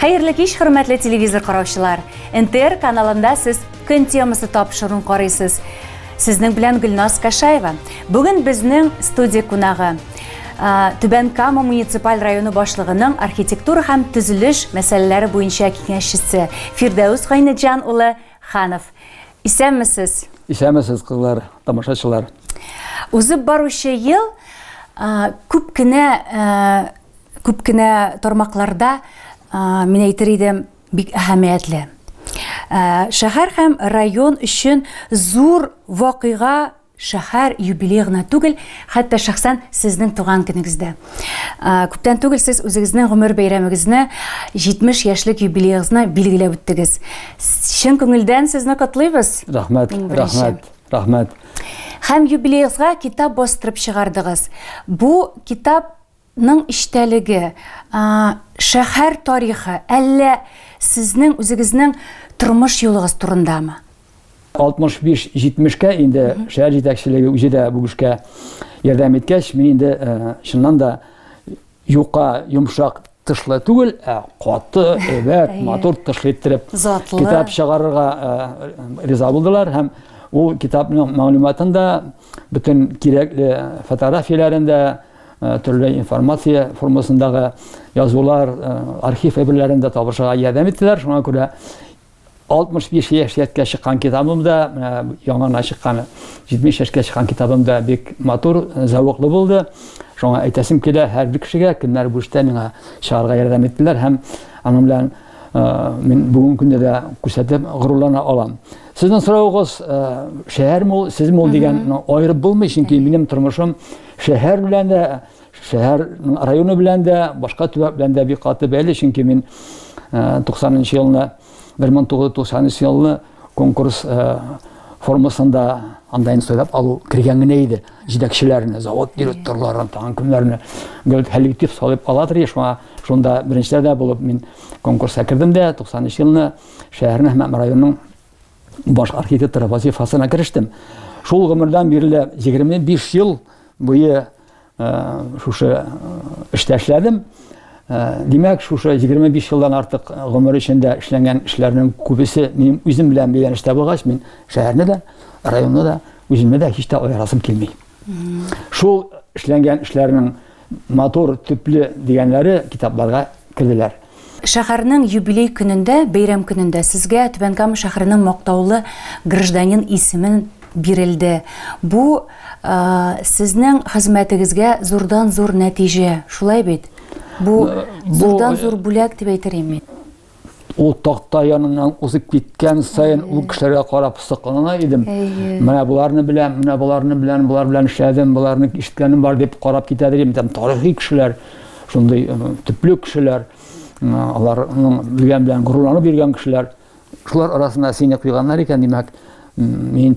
Хәерле кич, хөрмәтле телевизор караучылар! НТР каналында сез көн темасы тапшыруын карыйсыз. Сезнең белән Гөлназ Кашаева. Бүген безнең студия кунагы Түбән Кама муниципаль районы башлыгының архитектура һәм төзелеш мәсьәләләре буенча киңәшчесе Фирдәүс Гайнеджан улы Ханов. Исәнмесез. Исәнмесез, кызлар, тамашачылар. Узып баручы ел күп кенә Күп кенә тармакларда, мин әйтер идем, бик әһәмиятле. Шәһәр һәм район өчен зур вакыйга шәһәр юбилей гына түгел, хәтта шәхсән сезнең туган көнегездә. Күптән түгел сез үзегезнең гомер бәйрәмегезне, 70 яшьлек юбилеегызны билгеләп үттегез. Чын күңелдән сезне котлыйбыз. Рәхмәт, рәхмәт, рәхмәт. Һәм юбилеегызга китап бастырып чыгардыгыз. Бу китап Ның эчтәлеге, шәһәр тарихы, әллә сезнең үзегезнең тормыш юлыгыз турындамы? 65-70 кә инде шәһәр җитәкчелеге үзе дә бу эшкә ярдәм иткәч, мин инде чыннан да юка, йомшак тышлы түгел, ә каты, әйбәт, матур тышлы иттереп китап чыгарырга риза булдылар һәм ул китапның мәгълүматын да, бөтен кирәкле фотографияләрен дә, Төрле информация формасындагы язулар, архив әйберләрен дә табышырга ярдәм иттеләр. Шуңа күрә 65 яшь яткә чыккан китабым да, яңана чыккан 70 яшькә чыккан китабым да бик матур, зәвыклы булды. Шуңа әйтәсем килә һәр бер кешегә, кемнәр бу эштә миңа чыгарга ярдәм иттеләр һәм аның белән мин бүгенге көндә дә күрсәтеп горурлана алам. Сезнең соравыгыз, шәһәрме ул, сезме ул дигән, ну, аерып булмый, чөнки минем тормышым Шәһәр белән дә, шәһәр районы белән дә, башка төбәк белән дә бик каты бәйле, чөнки мин 90 э, нчы елны, 1993 елны конкурс э, формасында анда инде сайлап алу кергән генә иде. Җитәкчеләрне, завод директорларын, тагын кемнәрне гел коллектив салып ала тора, шуңа шунда беренчеләрдә булып мин конкурска кердем дә 93 елны шәһәрнең һәм районның баш архитектор вазифасына керештем. Шул гомердән бирле 25 ел буе шушы эштә эшләдем. Димәк, шушы 25 елдан артык гомер эчендә эшләнгән эшләрнең күбесе минем үзем белән бәйләнеш табылгач, мин шәһәрне дә, районны да, үземне дә һич тә аерасым килми. Шул эшләнгән эшләрнең Матур, төпле дигәннәре китапларга керделәр. Шәһәрнең юбилей көнендә, бәйрәм көнендә сезгә Түбән Кама шәһәренең мактаулы гражданин исемен бирелде. Бу сезнең хезмәтегезгә зурдан-зур нәтиҗә, шулай бит? Бу зурдан-зур бүләк дип әйтер идем мин. ул такта яныннан узып киткән сайын ул кешеләргә карап соклана идем менә боларны беләм менә боларны беләм болар белән эшләдем боларны ишеткәнем бар дип карап китә идем там тарихи кешеләр шундый төпле кешеләр аларның белгән белән горурланып йөргән кешеләр шулар арасына сине куйганнар икән димәк мин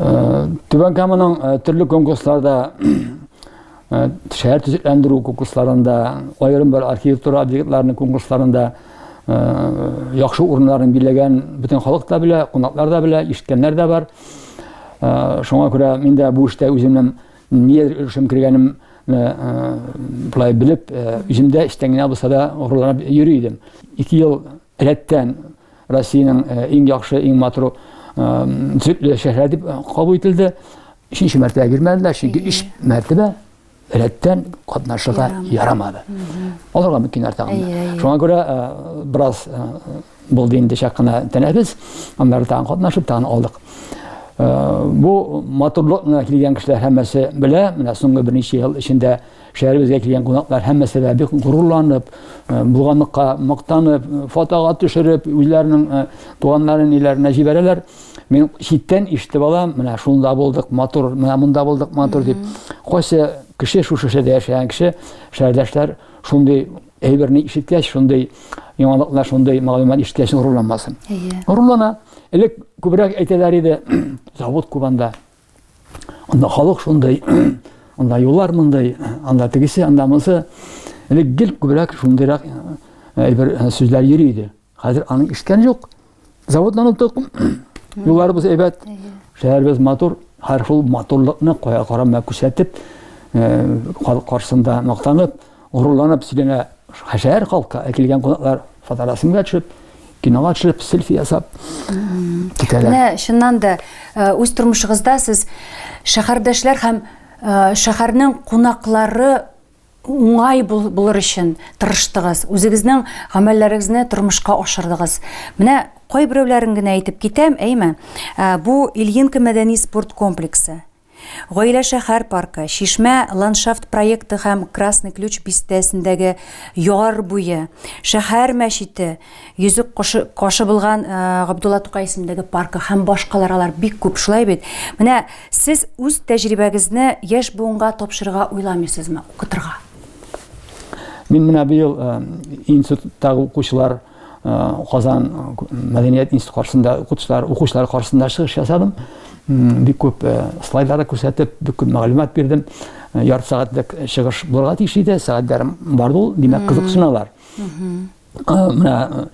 Түбән Каманың төрле конкурсларда шәһәр төзекләндерү конкурсларында, аерым бер архитектура объектларының конкурсларында яхшы урыннарын билеген бөтен халык та белә, кунаклар да белә, ишеткәннәр дә бар. Шуңа күрә мин дә бу эштә үземнең нидер өлешем кергәнем былай белеп, үземдә эчтән генә булса да горурланып йөри идем. Ике ел Рәттән Россиянең э, иң яхшы, иң матур сөтле шәһәр дип кабул ителде. Өченче мәртәбә бирмәделәр, чөнки өч мәртәбә рәттән катнашырга ярамады. Аларга мөмкин артагында. Шуңа күрә бераз булды инде чак кына тәнәфес, аннары тагын катнашып, тагын алдык. Бу матурлык килгән кешеләр һәммәсе белә, менә соңгы берничә ел эчендә Шәһәребезгә килгән кунаклар һәммәсе дә бик горурланып, булганлыкка мактанып, фотога төшереп, үзләренең туганнарын ниләренә җибәрәләр. Мин читтән ишетеп алам, менә шунда булдык, матур, менә монда булдык, матур дип. Кайсы кеше шушы шәһәрдә яшәгән кеше, шәһәрдәшләр шундый әйберне ишеткәч, шундый яңалыклар, шундый мәгълүмат ишеткәч горурланмасын. Горурлана. Элек күбрәк әйтәләр иде, завод Кубанда. Анда халык шундый, анда юллар мондый, анда тегесе, анда монысы. Элек гел күбрәк шундыйрак әйбер сүзләр йөри иде. Хәзер аның ишеткән юк. Заводларны топ, юлларыбыз әйбәт, шәһәребез матур, һәр шул матурлыкны кая карама күрсәтеп, халык каршысында мактанып, Горурланып сөйләнә шәһәр халкы, ә килгән кунаклар фоторәсемгә төшеп, кинога төшеп, селфи ясап китәләр. Менә чыннан да э, үз тормышыгызда сез шәһәрдәшләр һәм э, шәһәрнең кунаклары уңай булыр өчен тырыштыгыз, үзегезнең гамәлләрегезне тормышка ашырдыгыз. Менә кайберәүләрен генә әйтеп китәм, әйме? Э, бу Ильинка мәдәни спорт комплексы. Гаилә шәһәр паркы, Чишмә ландшафт проекты һәм Красный ключ бистәсендәге яр буе, шәһәр мәчете, Йөзек кошы, кашы булган Габдулла Тукай исемендәге паркы һәм башкалар алар бик күп, шулай бит? Менә сез үз тәҗрибәгезне яшь буынга тапшырырга уйламыйсызмы, укытырга? Мин менә быел институттагы укучылар Казан мәдәният институты каршында укытучылар, укучылар каршында чыгыш ясадым. Бик күп слайдлар күрсәтеп, бик күп мәгълүмат бирдем. Ярты сәгатьлек чыгыш булырга тиеш иде, сәгать ярым барды ул, димәк, кызыксыналар. Менә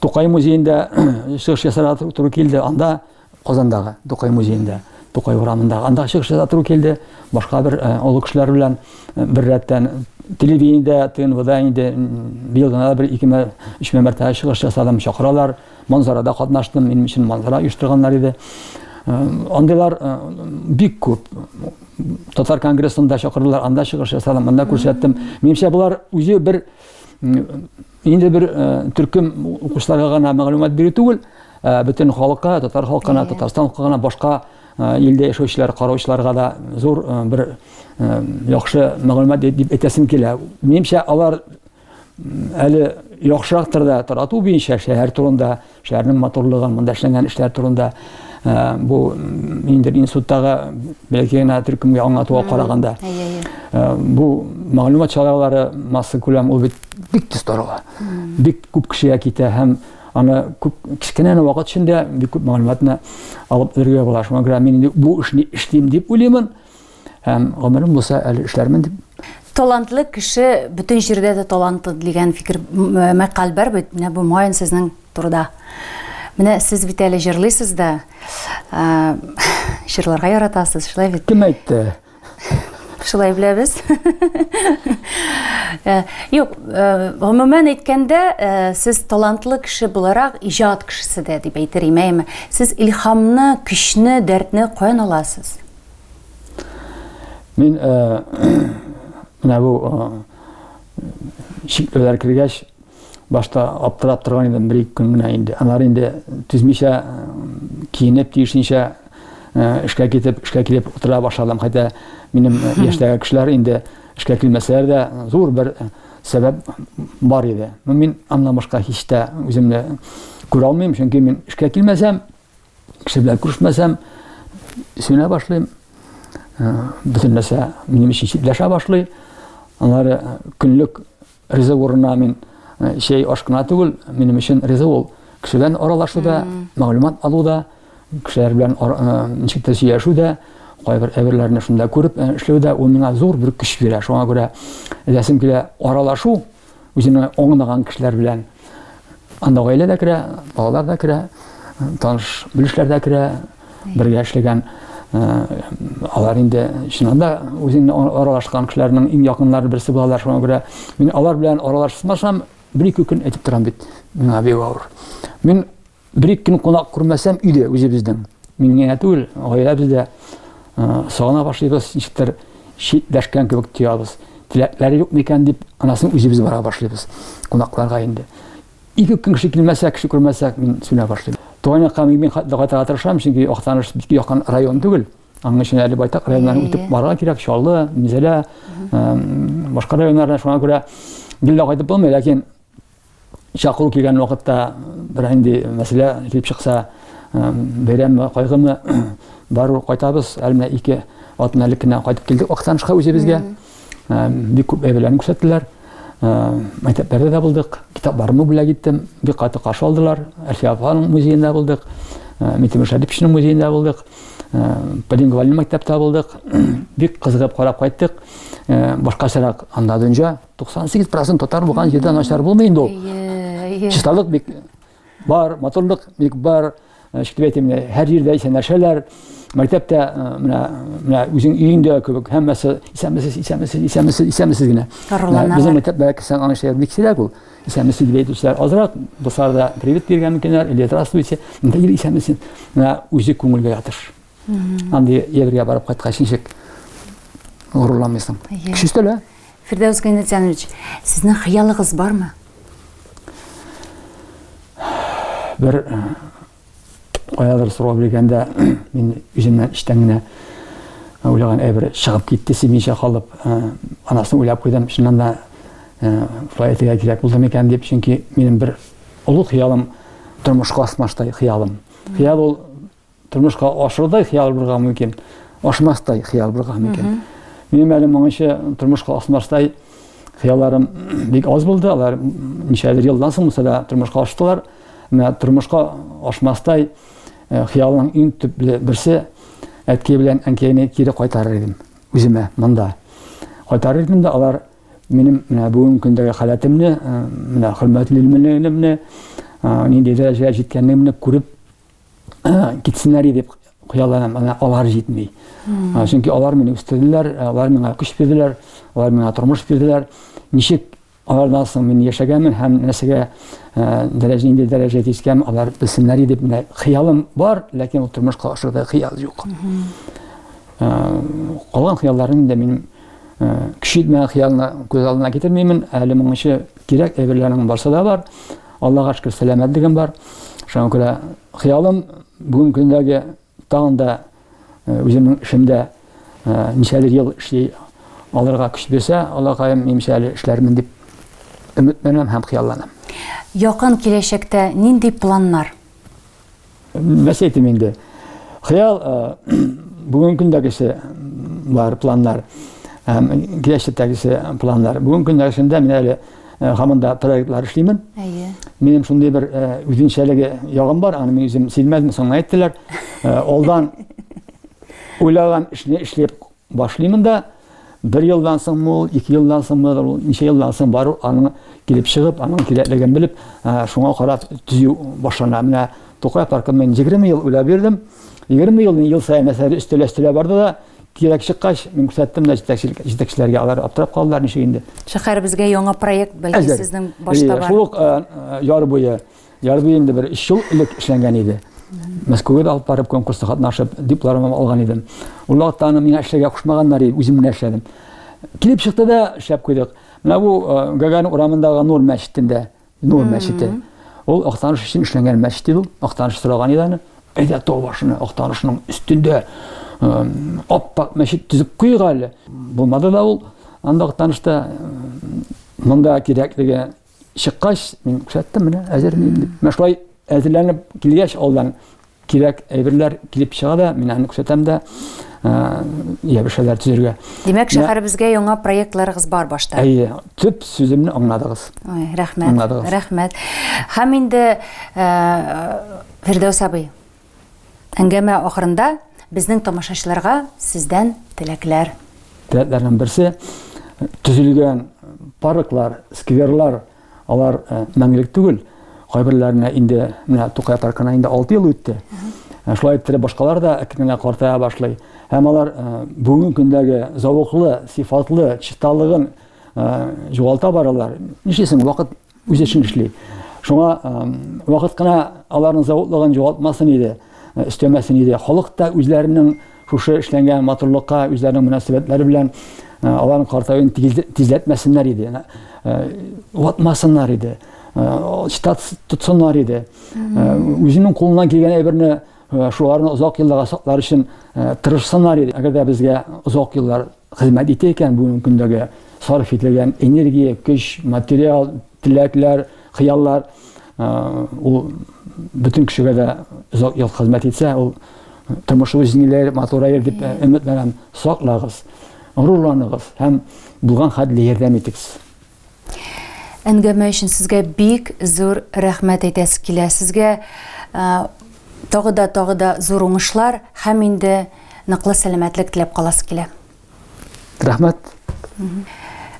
Тукай музеенда чыгыш ясарга туры килде, анда Казандагы Тукай музеенда, Тукай урамындагы андагы чыгыш ясап тору килде. Башка бер э, олы кешеләр белән э, бер рәттән телевидениедә, ТНВда инде быел гына бер икеме, өчмә мәртәбә чыгыш ясадым, чакыралар. Манзарада катнаштым, минем өчен манзара оештырганнар иде. Э, андыйлар бик күп. Татар конгрессында чакырдылар, анда чыгыш ясадым, анда күрсәттем. Минемчә, болар үзе бер Инде бер төркем укучыларга гына мәгълүмат бирү түгел, бөтен халыкка, татар халкына, Татарстан халкына, башка илдә яшәүчеләр, караучыларга да зур бер яхшы мәгълүмат дип әйтәсем килә. Минемчә, алар әле яхшырактыр да тарату буенча шәһәр турында, Шәһәрнең матурлыгы, монда эшләнгән эшләр турында бу инде институттагы бәлки генә төркемгә аңлатуга караганда бу мәгълүмат чаралары масса күләм ул бит бик тиз тарала. Бик күп кешегә китә һәм аны күп кечкенә генә вакыт эчендә бик күп мәгълүматны алып өлгерә була. Шуңа күрә мин бу эшне эшлим дип уйлыймын. Һәм гомерем булса әле эшләрмен дип. Талантлы кеше бөтен җирдә дә талантлы дигән фикер мәкаль бар бит. Менә бу Майен сезнең турыда. Менә сез бит әле җырлыйсыз да. Җырларга яратасыз, шулай бит? Кем әйтте? Шулай беләбез. Э, юк, э, гомумән әйткәндә, э, сез талантлы кеше буларак иҗат кешесе дә дип әйтер имәйме? Сез илһамны, көчне, дәртне каян аласыз? Мин э, менә бу э, чикләр кергәч, башта аптырап торган идем бер ике көн генә инде. Алар инде түзмичә киенеп тиешенчә эшкә китеп, эшкә килеп утыра башладым. Хәтта минем яшьтәге кешеләр инде эшкә килмәсәләр дә зур бер сәбәп бар иде. Мин аннан башка һич тә үземне күрә алмыйм, чөнки мин эшкә килмәсәм, Кеше белән күрешмәсәм, сүнә башлыйм. Э, бөтен нәрсә минем өчен читләшә башлый. Алар э, көнлек риза урынына мин э, чәй аш кына түгел, минем өчен риза ул. Кеше белән аралашуда, мәгълүмат алуда, кешеләр белән ничек тә сөйләшүдә, кайбер әйберләрне шунда күреп эшләүдә ул миңа зур бер көч бирә. Шуңа күрә ләсем килә аралашу, үземә аңлаган кешеләр белән анда гаилә дә керә, балалар да керә, таныш белешләр дә керә, бергә эшләгән алар инде чыннан да үзеңне аралашкан кешеләрнең иң якыннары берсе булалар шуңа күрә мин алар белән аралашмасам бер ике көн әйтеп торам бит миңа бик авыр мин Бер-ике көн кунак күрмәсәм, өйдә үзебезнең. Мин генә түгел, гаиләбез дә сагына башлыйбыз, ничектер читләшкән кебек тоябыз. Теләкләре юк микән дип, анасын үзебез бара башлыйбыз кунакларга инде. Ике көн кеше килмәсә, кеше күрмәсә, мин сүнә башлыйм. Туган якка мин бик хәтле кайтырга тырышам, чөнки Актаныш бик якын район түгел. Аның өчен әле байтак районнарны үтеп барырга кирәк, Чаллы, Минзәлә, башка районнарны шуңа күрә гел дә кайтып булмый, ләкин чакыру килгән вакытта бер инде мәсьәлә килеп чыкса, бәйрәмме, кайгымы, бару кайтабыз, әле менә ике атна элек кенә кайтып килдек Актанышка үзебезгә. Бик күп әйберләрне күрсәттеләр. Мәктәпләрдә дә булдык, китапларымны бүләк иттем, бик каты каршы алдылар. Әлфия апаның музеенда булдык, Митимер Шәдиповичның музеенда булдык, полингвальный мәктәптә булдык. Бик кызыгып карап кайттык. Башкачарак анда дөнья. 98 процент татар булган җирдә начар булмый инде ул чисталык бик бар матурлык бик бар шикелле әйтим һәр җирдә исәнләшәләр мәктәптә менә менә үзең өеңдә кебек һәммәсе исәнмесез исәнмесез исәнмесез исәнмесез генә безнең мәктәп бәләкәсән аны эшләр бик сирәк ул исәнмесез дип әйтүчеләр азрак дуслар да привет биргән микәннәр или здравствуйте исәнмесез менә үзе күңелгә ятыш Андый егерьгә барып кайткач ничек горурланмыйсың? Кеше өстәлә. Фирдәүс Гайнетянович, сезнең хыялыгыз бармы? Бер каядыр сорау биргәндә мин үземнән эчтән генә уйлаган әйбер чыгып китте симичә калып. Анасын уйлап куйдым. Чыннан да шулай әйтергә кирәк булды микән дип, чөнки минем бер олы хыялым тормышка асмаштай хыялым. Хыял ул тормышка ашырдай хыял булырга мөмкин ашмастай хыял булырга мөмкин минем әле моңынча тормышка ашмастай хыялларым бик аз булды алар ничәдер елдан соң мәсәлә тормышка аштылар менә тормышка ашмастай хыялның иң төпле берсе әткәй белән әнкәйне кире кайтарыр идем үземә монда кайтарыр идем дә алар минем менә бүгенге көндәге халәтемне менә хөрмәтле минемне нинди дәрәҗәгә җиткәнемне күреп китсеннәр иде дип куялар һәм ана алар җитми. Чөнки алар мине үстерделәр, алар миңа көч бирделәр, алар миңа тормыш бирделәр. Ничек алардан соң мин яшәгәнмен һәм нәрсәгә дәрәҗә инде дәрәҗә тискән алар белсеннәр иде менә хыялым бар, ләкин ул тормышка ашырда хыял юк. Калган хыялларым инде мин кичитмә хыялны күз алдына китермимен, әле моңчы кирәк әйберләрнең барса да бар. Аллага шөкер, сәламәтлегем бар. Шуңа күрә хыялым бүгенге көндәге тагын да үземнең эшемдә ничәлер ел эшли алырга көч бирсә, Аллакаем, имчә әле эшләрмен дип өметләнәм һәм хыялланам. Якын киләчәктә нинди планнар? Нәрсә әйтим инде? Хыял бүгенге көндәгесе бар планнар һәм киләчәктәгесе планнар. Бүгенге көндәгесендә мин әле хамында проектлар эшлимен. Әйе. Минем шундый бер үзенчәлеге ягым бар, аны мин үзем сизмәдем, соңга әйттеләр. Алдан уйлаган эшне эшләп Башлыймын да, бер елдан соң мул, ике елдан соң мул, ничә елдан соң бару, аның килеп чыгып, аның кирәклеген белеп, шуңа карап төзү башлана. Менә Тукай паркын мин 20 ел уйлап бирдем. 20 елны ел саен әсәр өстәләштерә барды да, кирәк чыккач, мин күрсәттем дә җитәкчеләргә, алар аптырап калдылар, ничек инде. Шәһәребезгә яңа проект, бәлки сезнең башта бар. Шул ук яр буе. Ярды инде бер өч ел элек эшләнгән иде. Мәскәүгә дә алып барып конкурста катнашып, дипломым алган идем. Ул вакытта аны миңа эшләргә кушмаганнар иде, үзем генә эшләдем. Килеп чыкты да шәп куйдык. Менә бу э, Гагарин урамындагы Нур мәчетендә, Нур мәчете. Ул Актаныш өчен эшләнгән мәчет иде ул. Актаныш сораган иде аны. Әйдә тау башына, Актанышның өстендә э, аппак мәчет төзеп куйык әле. Булмады да ул. Анда Актанышта э, монда кирәклеге чыккач, мин күрсәттем менә, әзер мин дип. Менә шулай әзерләнеп килгәч, алдан кирәк әйберләр килеп чыга да, мин аны күрсәтәм дә, ябышәләр төзергә. Димәк, шәһәребезгә яңа проектларыгыз бар башта. Әйе, төп сүземне аңладыгыз. Ой, рәхмәт. Аңладыгыз. Рәхмәт. Һәм инде Фирдәүс абый, Әңгәмә ахырында безнең тамашачыларга сездән теләкләр. Теләкләрнең берсе төзелгән парклар, скверлар, алар э, мәңгелек түгел. Кайберләренә инде менә Тукай паркына инде 6 ел үтте. Э, шулай иттереп башкалар да әкренләп картая башлый. Һәм алар э, бүгенге көндәге зәвыклы, сифатлы, чисталыгын югалта баралар. Нишлисең, вакыт үз эшен эшли. Шуңа вакыт кына аларның заводлыгын югалтмасын иде, өстәмәсен иде. Халык та үзләренең шушы эшләнгән матурлыкка, үзләренең мөнәсәбәтләре белән аларның картаюын тизләтмәсеннәр иде. Ватмасыннар иде. Штат тотсыннар иде. Үзенең кулыннан килгән әйберне шуларны озак елларга саклар өчен тырышсыннар иде. Әгәр дә безгә озак еллар хезмәт итә икән бүгенге көндәге сарыф ителгән энергия, көч, материал, теләкләр, хыяллар. Ул бөтен кешегә дә озак ел хезмәт итсә, ул тормыш үзеңләр матурайыр дип өметләнәм. Саклагыз, горурланыгыз һәм булган хәтле ярдәм итегез. Әңгәмә өчен сезгә бик зур рәхмәт әйтәсе килә. Сезгә тагы да тагы да зур уңышлар һәм инде ныклы сәламәтлек теләп каласы килә. Рәхмәт.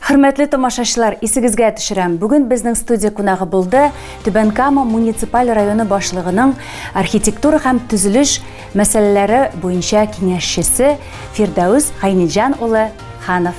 Хөрмәтле тамашачылар, исегезгә төшерәм, бүген безнең студия кунагы булды Түбән Кама муниципаль районы башлыгының архитектура һәм төзелеш мәсьәләләре буенча киңәшчесе Фирдәүс Гайниҗан улы Ханов.